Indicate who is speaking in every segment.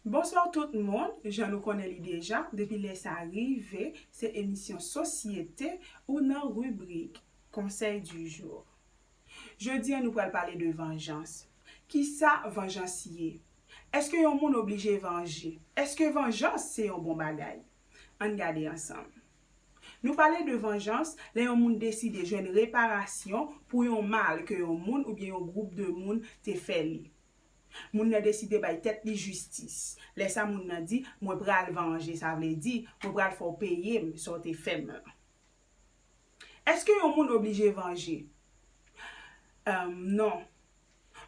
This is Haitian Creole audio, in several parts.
Speaker 1: Bonsoir tout moun, jan nou konnen li deja, depi lè sa rive, se emisyon sosyete ou nan ribrik Conseil du jour. Jodi an nou pral pale de vanjans. Kisa vanjans ye? Eske yon moun oblije vanje? Eske vanjans se yon bon bagay? Ann gade ansanm. Nou pale de vanjans lè yon moun deside jwenn reparasyon pou yon mal ke yon moun oubyen yon gwoup de moun te fè li. Moun nan deside bay tèt li jistis. Lè sa moun nan di, mwen pral vanje, sa vle di, mwen pral fè w peye m sa w te fè m lan. Èske yon moun oblije vanje? Humm non.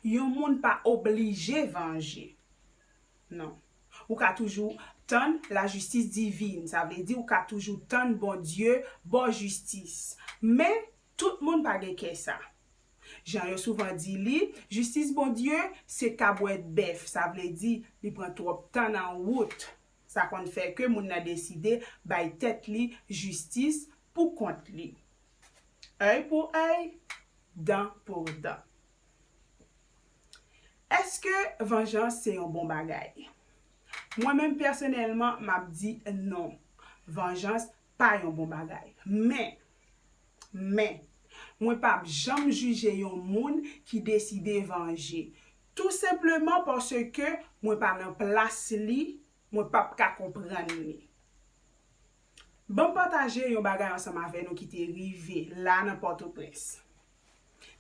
Speaker 1: Yon moun pa oblije vanje. Non. Ou ka toujou tann la jistis divine. Sa vle di ou ka toujou tann Bondye ba w jistis. Men, tout moun pa gen kè sa. Jan yo souvan di li, jistis Bondye se tabwèt bèf. Sa vle di, li pran twòp tan nan wout. Sa konn fè ke moun nan deside bay tèt li jistis pou kont li. Oeil pour oeil, dent pour dent. Eske vanjans se yon bon bagay? Mwen menm pèsonèlman m ap di non. Vanjans pa yon bon bagay. Men, men, mwen pa p janm jije yon moun ki deside vanje. Tou senpleman paske mwen pa nan plas li, mwen pa p ka konprann li. Ban m pataje yon bagay ansanm avè nou ki te rive la nan Pòtoprens.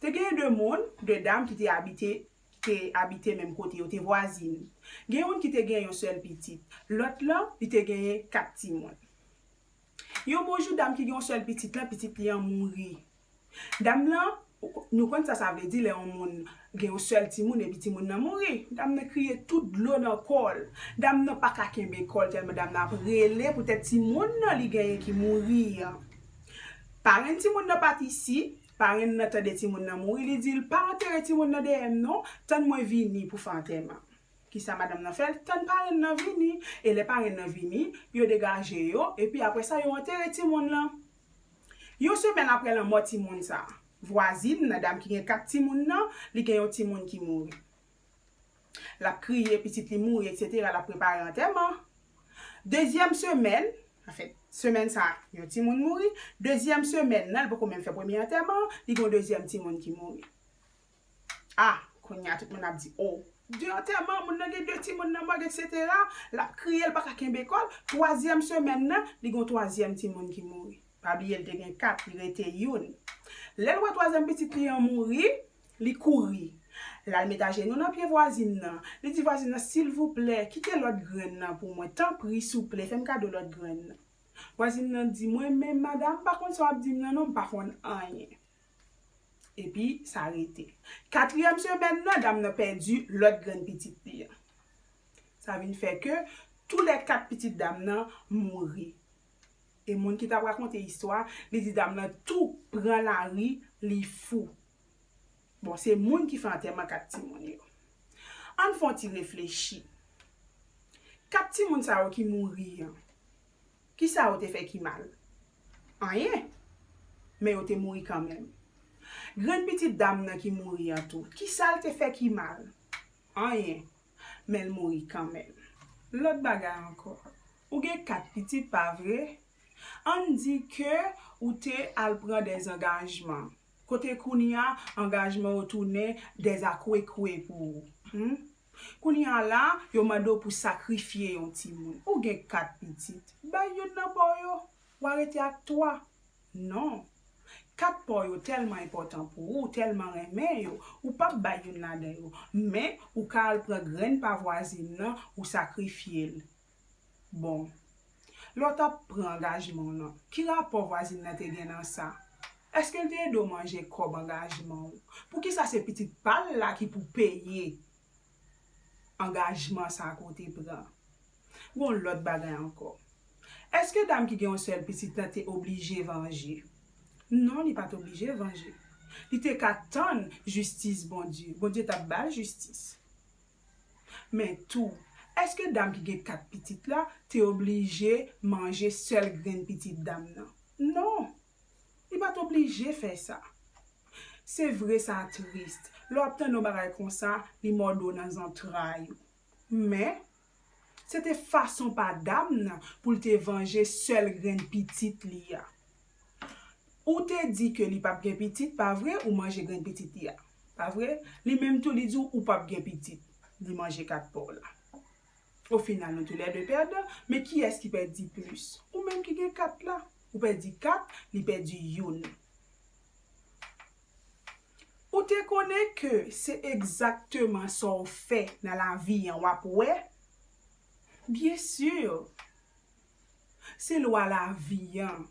Speaker 1: Te genyen de moun, de dam ki te abite, ki te abite menm kote, yo te vwazin. Gen youn ki te genyen yon sèl pitit. Lòt lan, li te genyen kat timoun. Yon bon jou, dam ki gen yon sèl pitit lan, pitit li an mouri. Dam lan, nou konn sa sa vle di lè yon moun Gen yon sèl timoun epi timoun nan mouri. Dam nan kriye tout dlo nan kò l. Dam nan pa ka kenbe kò l tèlman dam nan ap rele poutèt timoun nan li genyen ki mouri an. Parenn timoun nan pa t isi. Parenn nan tande timoun nan mouri, li di l, Pa antere timoun nan dèyè m non, tann mwen vini pou fè antèman. Kisa madanm nan fè? L tann parenn nan vini. E lè parenn nan vini, yo degaje yo, epi apre sa yo antere timoun lan. Yon semèn aprè lanmò timoun sa a, vwazin nan, dam ki gen kat timoun nan, li gen yon timoun ki mouri. L ap kriye pitit li mouri eksetera, l ap prepare antèman. Dezyèm semèn, anfen, semèn sa a, yon timoun mouri. Dezyèm semèn nan, li poko menm fè premye antèman an, li gen yon dezyèm timoun ki mouri. Ah kounye a tout moun ap di oh. De antèman, moun nan gen de timoun nan mòg eksetera, l ap kriye l pa ka kenbe kò l, twazyèm semèn nan, li gen yon twazyèm timoun ki mouri. Pa bliye l te gen kat, li rete youn. Lè l wè twazyèm pitit li an mouri, li kouri. L al met ajenou nan pye vwazin nan, li di vwazin nan silvouplè, kite lòt grenn nan pou mwen, tanpri souple, fè m kado lòt grenn nan. Vwazin nan di, mwen menm madam, m pa konn sa w ap di m nan non, m pa konn anyen. Epi, sa rete. Katriyèm semèn nan, dam nan pèdi lòt grenn pitit li an. Sa vin fè ke tou lè kat pitit dam nan mouri. E moun ki t ap rakonte istwa a, li di dam nan tou pran lari, li fou. Bon, se moun ki fè antèman kat timoun yo. An n fè yon ti reflechi. Kat timoun sa yo ki mouri an, ki sa yo te fè ki mal? Anyen. Men yo te mouri kanmenm. Grann pitit dam nan ki mouri an tou, kisa l te fè ki mal? Anyen. Men l mouri kanmenm. Lòt bagay ankò. Ou gen kat pitit, pa vre? Ann di ke ou te al pran dè zangajman. Kote kounye a angajman yo tounen dèzakwekwe pou ou? Hum? Kounye a la, yo mande w pou sakrifye yon timoun. Ou gen kat pitit. Bay youn nan pa w yo. W a rete ak twa. Non. Kat pa w yo tèlman enpòtan pou ou, w tèlman renmen yo, ou p ap bay youn ladan yo. Men, ou ka al pran grenn pa vwazin nan, ou sakrifye l. Bon. Lè w t ap pran angajman w lan, ki rapò vwazin nan te gen nan sa? Èske l te ede w manje kòb angajman w? Poukisa se pitit pa l la ki pou peye angajman sa a ke w te pran? Gon lòt bagay ankò. Èske dam ki gen yon sèl pitit lan te oblije vanje? Non, li pa t oblije vanje. Li te ka tann jistis Bondye. Bondye t ap ba l jistis. Men tou, èske dam ki gen kat pitit la te oblije manje sèl grenn pitit dam nan? Non! Li pa t oblije fè sa. Se vre sa tris, lè w ap tande yon bagay konsa, li mòde w nan zantray ou. Men, se te fason pa dam nan pou l te vanje sèl grenn pitit li a. Ou te di ke li pap gen pitit pa vre ou manje grenn pitit li a pa vre li menm tou li di w ou pap gen pitit li manje kat paw la o final nou tou lè 2 pèdan men kiyès ki pèdi plis ou menm ki gen kat la ou pèdi kat li pèdi youn ou te konnen ke se egzakteman sa w fè nan lavi an wap wè byen sur Se lwa lavi an.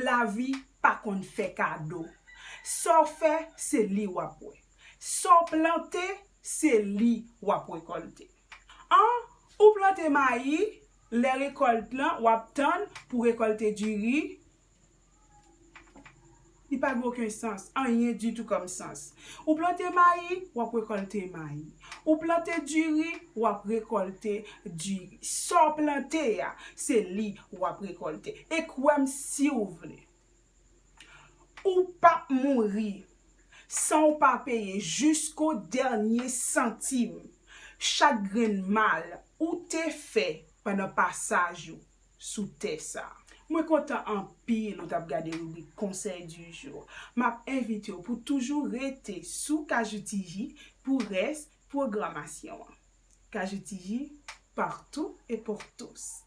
Speaker 1: Lavi pa konn fè kado. Sa w fè, se li w ap wè. Sa w plante, se li w ap rekòlte. An, ou plante mayi, lè rekòlt lan, w ap tann pou rekòlte diri, Li pa gen oken sans, anyen ditou kòm sans. Ou plante mayi, w ap rekòlte mayi. Ou plante diri, w ap rekòlte diri. Sa w plante a, se li w ap rekòlte. E kwè m si w vle, ou pap mouri san w pa peye jisko dènye santim chak grenn mal ou te fè pandan pasaj ou sou tè sa. Mwen kontan anpil ou tap gade ribrik conseil du jour. Map envitew pou toujou rete sou KJTJ pou rès pwogramasyon an. KJTJ, partout et pour tous.